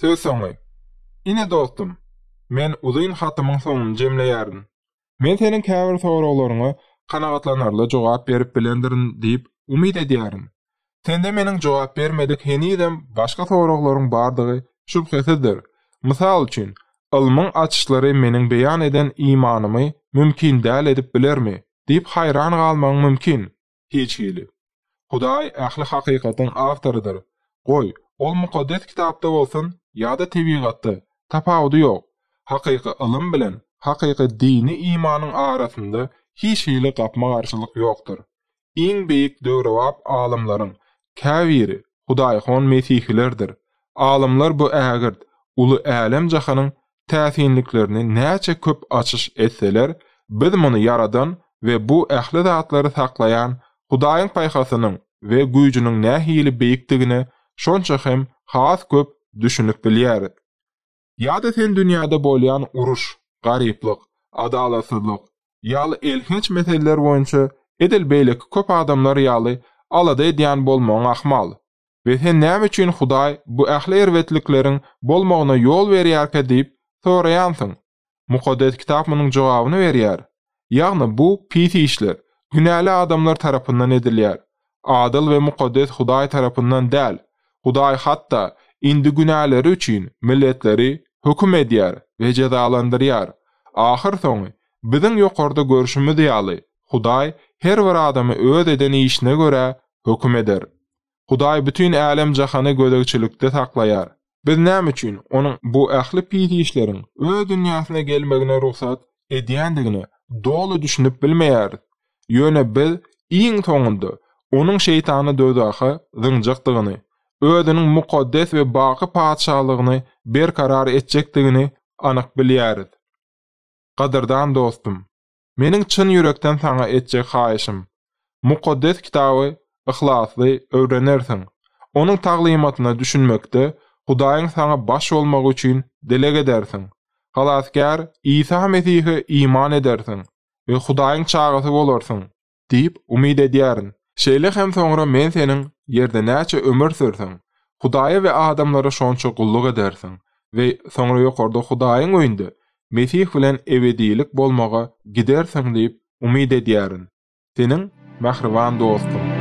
Söz soňy. Ine dostum, men uzyn hatymyň soňuny jemleýärin. Men seniň käbir soraglaryňa kanagatlanarly jogap berip bilendirin diýip umyt edýärin. Sende meniň jogap bermedik henizem başga soraglaryň bardygy şübhesizdir. Mysal üçin, ylmyň açyşlary meniň beýan eden imanymy mümkin däl edip bilermi? diýip haýran galmagyň mümkin. Hiç hili. Hudaý ähli hakykatyň awtorydyr. Goý, ol Mukaddes Kitapda bolsun ýa-da tebigatda, tapawudy ýok, hakyky ylym bilen hakyky dini imanyň arasynda hiç hili gapma-garşylyk ýokdur. Iň beýik döwrebap alymlaryň käbiri hudaýhon mesihilerdir. Alymlar bu ägirt uly älem-jahanyň täsinliklerini näçe köp açyş etseler, biz muny ýaradan we bu ähli zatlary saklaýan Hudaýyň paýhasynyň we güýjüniň nähili beýikdigine şonça hem has köp düşünip bilýäris. Ýa-da sen dünýäde bolýan uruş, garyplyk, adalatsyzlyk ýaly elhenç meseleler boýunça edil beýleki köp adamlar ýaly alada edýän bolmagyň ahmal. we sen näme üçin Hudaý bu ähli erbetlikleriň bolmagyna ýol berýärkä diýip soraýansyň? Mukaddes Kitap munuň jogabyny berýär, Ýagny bu pis işler, günäli adamlar tarapyndan edilýär. Adyl we mukaddes Hudaý tarapyndan däl. Hudaý hatda, indi günäleri üçin, milletleri höküm edýär we jezalandyrýar. Ahyrsoňy, biziň ýokarda görşümiz ýaly, Hudaý her bir adamy öz eden işine görä höküm eder. Hudaý bütin älem-jahany gözegçilikde saklaýar. Biz näme üçin Onuň bu ähli pis işleriň Öz dünýäsine gelmegine rugsat edýändigine doly düşünip bilmeýäris? Ýöne biz iň soňunda Onuň Şeýtany döwzaha zyňjakdygyny, Özüniň mukaddes we baky Patyşalygyny berkarar etjekdigini anyk bilýäris. Gadyrdan dostum! Meniň çyn ýürekden saňa etjek haýyşym, Mukaddes Kitaby yhlasly öwrenersiň, onuň taglymatyna düşünmekde Hudaýyň saňa baş bolmagy üçin dileg edersiň, Halasgär Isa Mesihe iman edersiň we Hudaýyň çagasy bolarsyň. Diýip umyt edýärin. Şeýle hem soňra men seniň Ýerde näçe ömür sürseň, Hudaýa we adamlara şonça gulluk edersiň we soňra ýokarda Hudaýyň öýünde Mesih bilen ebedilik bolmaga gidersiň diýip umyt edýärin. Seniň mähriban dostuň.